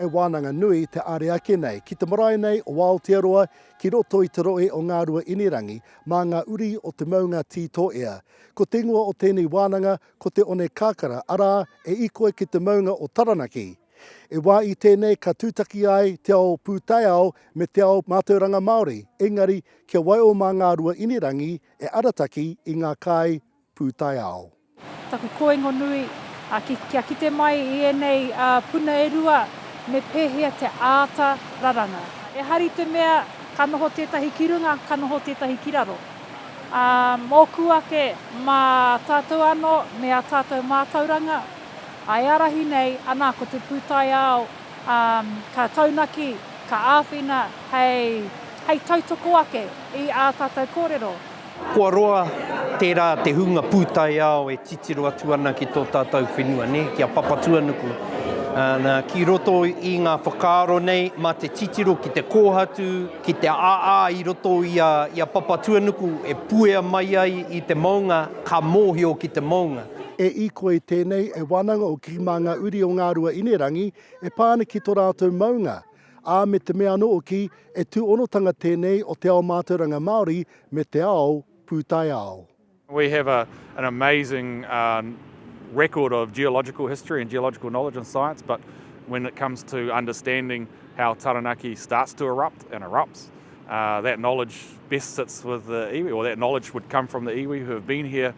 He wānanga nui te āre ake nei ki te marae nei o Aotearoa ki roto i te rohe o Ngārua Inirangi mā ngā uri o te maunga Tī Tōea. Ko te ingoa o tēnei wānanga ko Te Onekākara arā, e ikoe ki te maunga o Taranaki. E wā i tēnei ka tūtaki ai te ao pūtaiao me te ao mātauranga Māori, engari kia waio mā Ngārua Inirangi e arataki i ngā kāi pūtaiao. Taku koingo nui, kia kite mai i ēnei puna e rua, me pēhea te āta raranga. E hari te mea, ka noho tētahi ki runga, ka noho tētahi ki raro. Ā, mōku ake, mā tātou anō, me ā tātou mātauranga, ā, e ārahi nei, anā, ko te pūtaiao, ā, ka taunaki, ka āwhina hei tautoko ake i ā tātou kōrero. Kua roa tērā te hunga pūtaiao e titiro atu ana ki tō tātou whenua, nē, ki a Papatuanuku. Nā, ki roto i ngā whakaaro nei, mā te titiro ki te kōhatu, ki te āā i roto i a, i a Papatuanuku e puea mai ai i te mounga, ka mōhio ki te mounga. E Ikoi tēnei, e wānanga o Kirimāngauri o Ngāruaīnerangi, e pā ana ki tō rātou mounga. ā, me te mea anō hoki e tūhonotanga tēnei o te ao mātauranga Māori me te ao pūtaiao. We have a an amazing record of geological history and geological knowledge and science but when it comes to understanding how Taranaki starts to erupt and erupts that knowledge best sits with the iwi or that knowledge would come from the iwi who have been here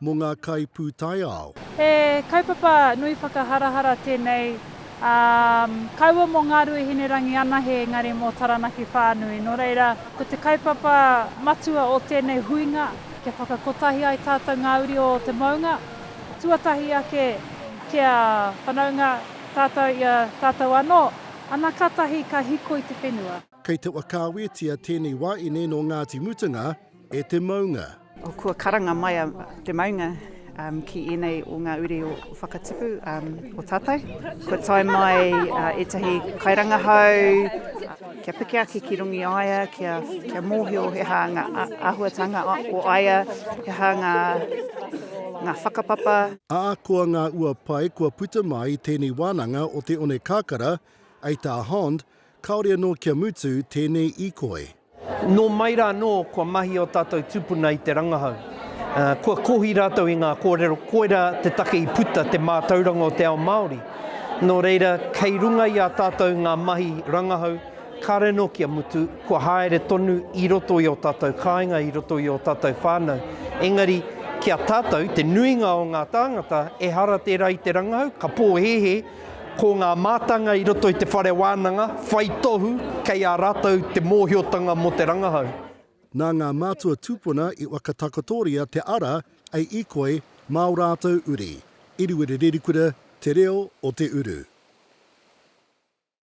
mō ngā kaipūtaiao. He kaupapa nui whakaharahara tēnei, ā, kaua mō Ngāruhi Hinerangi anahe engari mō Taranaki whānui. Nō reira, ko te kaupapa matua o tēnei huinga, kia whakakotahi ai tātou ngā uri o te maunga, tuatahi ake kia whanaunga tātou i a tātou anō, ana ka tahi ka hiko i te whenua. Kei te whakaawetia tēnei waeine nō Ngāti Mutunga e te maunga. Kua karanga mai a te maunga ki ēnei o ngā uri o Whakatipu o tātou. Kua tae mai ētahi kairangahau kia piki ake ki Rungiaia, kia mōhio he aha ngā āhuatanga o aia, he aha ngā whakapapa. Ahakoa ngā ua pai kua puta mai i tēnei wānanga o te Onekākara, Eita Hond, Kāore anō kia mutu tēnei ikoi. Nō mai rā anō kua mahi ō tātou tūpuna i te rangahau. Kua kohi rātou i ngā kōrero, koirā te take i puta te mātauranga o te ao Māori. Nō reira, kei runga i a tātou ngā mahi rangahau, kāore anō kia mutu, kua haere tonu i roto i ō tātou kāinga, i roto i ō tātou whānau. Engari, ki a tātou, te nuinga o ngā tāngata, ehara tērā i te rangahau, ka pōhēhē, Ko ngā mātanga i roto i te whare wānanga whai tohu kei a rātou te mōhiotanga mō te rangahau. Nā ngā mātua tūpuna i whakatakotoria te ara a Ikoi mā ō rātou uri, Iriwiri Rerikura, Te Reo o Te Uru.